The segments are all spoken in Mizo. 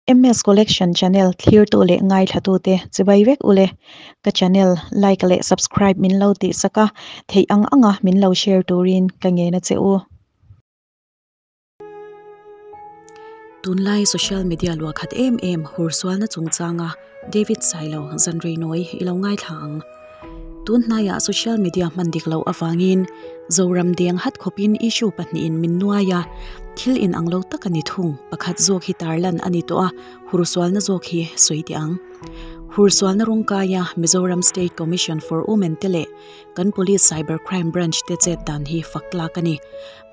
MS collection channel thlir tu leh ngaithla tu te chibai vek ule ka channel like leh subscribe min lo tih saka theih ang anga min lo share turin ka ngei na che u. Tunlai social media lua khat em em hur sualna chungchanga David Sailo zanreinawih i lo ngaithla ang. Tun hnaia social media hman dik loh avangin Zoram deng hat khawpin issue pahnihin min nuai a, thil inang lo taka ni thung pakhat zawk hi tarlan a ni tawh a, hur sualna zawk hi sawi teh ang. Hur sualna rawng kaia Mizoram State Commission for Women te leh kan Police Cyber Crime Branch te chet dan hi fak tlak a ni.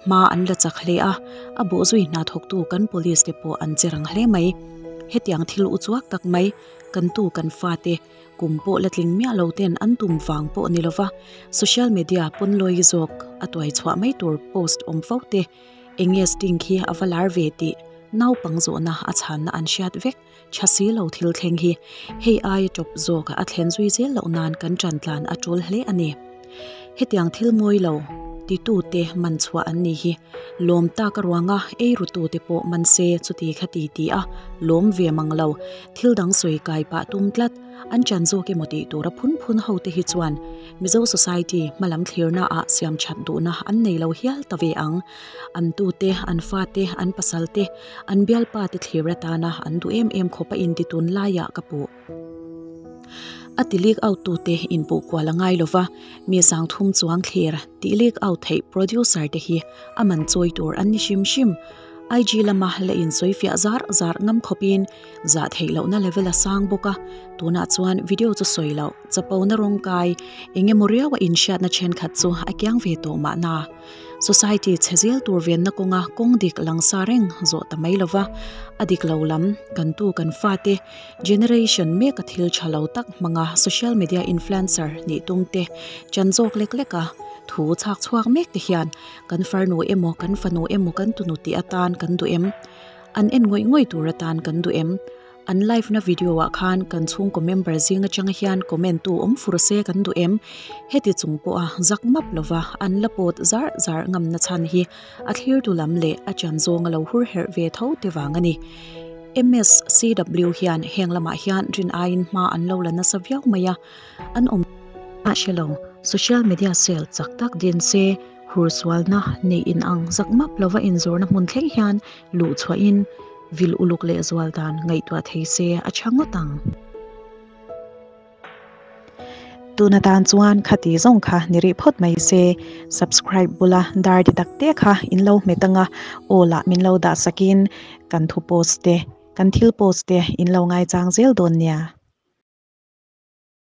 Hma an la chak hle a, a bawh zui hna thawktu kan police te pawh an che rang hle mai. Hetiang thil u chuak tak mai, kan tu kan fate kum pawh la tling miah lo ten an tum vang pawh ni lova, social media pawn lawi zawk a tuai chhuah mai tur post awm fo te, enge sting khi a va lar ve tih naupang zawhna a chhanna an hriat vek. Tha si lo thil thleng hi hei aia tawp zawka a thlen zui zel loh nan kan tan tlan a tul hle a ni. Hetiang thil mawi lo ti tu te man chhuah an nih hi lawm taka ruanga ei ru tu te pawh man se chuti kha ti ti a lawm ve mang lo. Thil dang sawi kai pah tum tlat an tan zawk emaw tih tura phun phun ho te hi chuan Mizo society hmalam thlir na ah siam that duh na an nei lo hial ta ve ang. An tute, an fate, an pasalte, an bialpate thlir atana an duh em em khawpa inti tun laia ka puh. A ti leak out tute inpuh kual angai lova, mi sang thum chuang thlir tih leak out theih producer te hi a man chawi tur an ni hrim hrim. IG lama la insawi fiah zar zar ngam khawpin zah theih loh na level a sang bawk a tunah chuan video chu sawi loh chapo na rawng kai eng emaw riau a in hriat na thenkhat chu a kiang ve tawh mahna society chhe zel tur ve na kawnga kawng dik lang sa reng zawh ta mai lova a dik lo lam kan tu kan fa te generation mek a thil tha lo tak hmang a social media influencer hnih tum te chan zawk lek lek a thu chhak chhuak mek te hian kan farnu emaw kan fanu emaw kan tunu tih atan kan duh em. An en ngawih ngawih tur atan kan duh em? An live na video ah khan kan chhungkaw member zing atanga hian comment tu awm fur se kan duh em? Heti chung pawha zak map lova an la pawt zar zar ngamna chhan hi a thlirtu lam leh a tian zawng a lo hur herh ve tho te vang a ni. Mscw hian heng lamah hian rin aiin hma an lo la nasa viau mai a, an awm. Mahse lo, social media sale chak tak din se. Hur sualna neih in ang zak map lova inzurna hmun thleng hian luh chhuah in vil uluk leh zual dan ngaihtuah thei se a tha ngawt ang. Tun atan chuan khati zawng kha ni rih phawt mai se, subscribe bula dar di tak te kha in lo hmet ang a, all ah min lo dah sak in kan thu post te, kan thil post te in lo ngai chang zel dawn nia.